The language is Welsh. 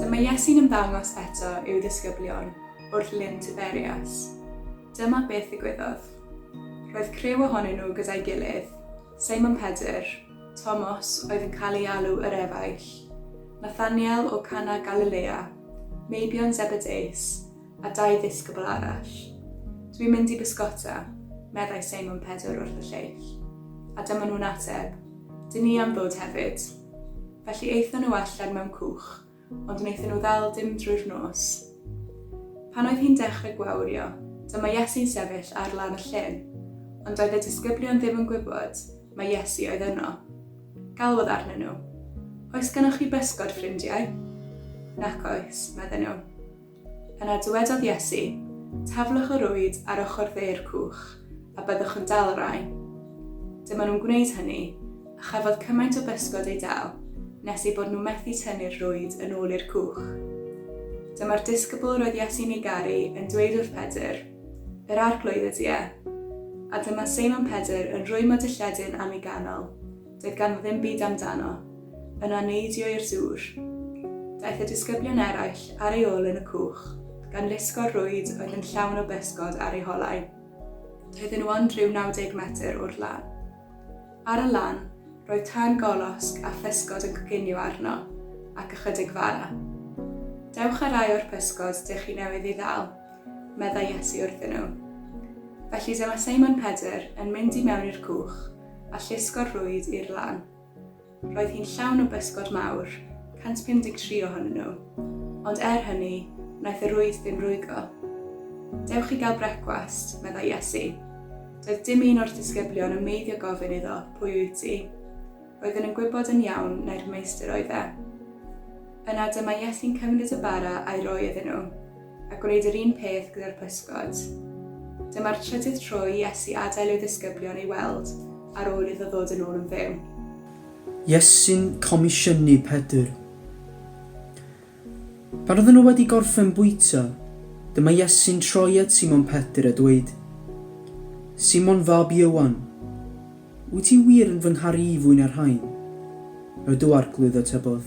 Dyma Iesu'n ymddangos eto i'w ddisgyblion wrth Lyn Tiberias. Dyma beth ddigwyddodd. Roedd criw ohonyn nhw gyda'i gilydd, Seimon Pedr, Tomos oedd yn cael ei alw yr Efaill, Nathaniel o Cana Galilea, meibion Zebedeus, a dau ddisgybl arall. Dwi'n mynd i bysgota, meddai Seimon Pedr wrth y lleill. A dyma nhw'n ateb, Dyn ni am ddod hefyd. Felly aethon nhw allan mewn cwch, ond wnaethon nhw ddal dim drwy'r nos. Pan oedd hi'n dechrau gwawrio, dyma Iesu'n sefyll ar lan y llyn, ond doedd y disgyblion ddim yn gwybod mae Iesu oedd yno. Galwodd arnyn nhw, Oes gennych chi bysgod, ffrindiau? Nac oes, medden nhw. Yna dywedodd Iesu, Taflwch y rwyd ar ochr dde'r cwch, a byddwch yn dal y rai. Dyma nhw'n gwneud hynny, a chafodd cymaint o bysgod eu dal, nes eu bod nhw methu tynnu'r rwyd yn ôl i'r cwch. Dyma'r disgybl roedd Iesu'n ei garu yn dweud wrth Pedr, Yr Arglwydd ydy e. A dyma Seimon Pedr yn rwymo dy lledyn am ei ganol. Doedd ganddo ddim byd amdano. Yna neidio i'r dŵr. Daeth y disgyblion eraill ar ei ôl yn y cwch, gan lusgo'r rwyd oedd yn llawn o bysgod ar eu holau. Doedden nhw ond rhyw 90 metr o'r lan. Ar y lan, roedd tân golosg a physgod yn coginio arno, ac ychydig fara. Dewch â rai o'r pysgod dych chi newydd ei ddal, meddai Iesu wrthyn nhw. Felly dyma Seimon Pedr yn mynd i mewn i'r cwch, a llusgo'r rwyd i'r lan. Roedd hi'n llawn o bysgod mawr, 153 ohonyn nhw, ond er hynny, wnaeth y rwyd ddim rwygo. Dewch i gael brecwast, meddai Iesu. Doedd dim un o'r disgyblion yn meiddio gofyn iddo, pwy wyt ti? Roedden yn gwybod yn iawn nai'r meistr oedd e. Yna dyma Iesu'n cymryd y bara a'i roi iddyn nhw. a gwneud yr un peth gyda'r pysgod. Dyma'r trydydd tro i Iesu adael ei ddisgyblion ei weld ar ôl iddo ddod yn ôl yn fyw. Iesu'n comisiynu Pedr. Pan oedden nhw wedi gorffen bwyta, dyma Iesu'n troi at Simon Pedr a dweud, Simon fab Ieuan, wyt ti wir yn fy ngharu i fwy na'r rhain? Rydw Arglwydd atebodd.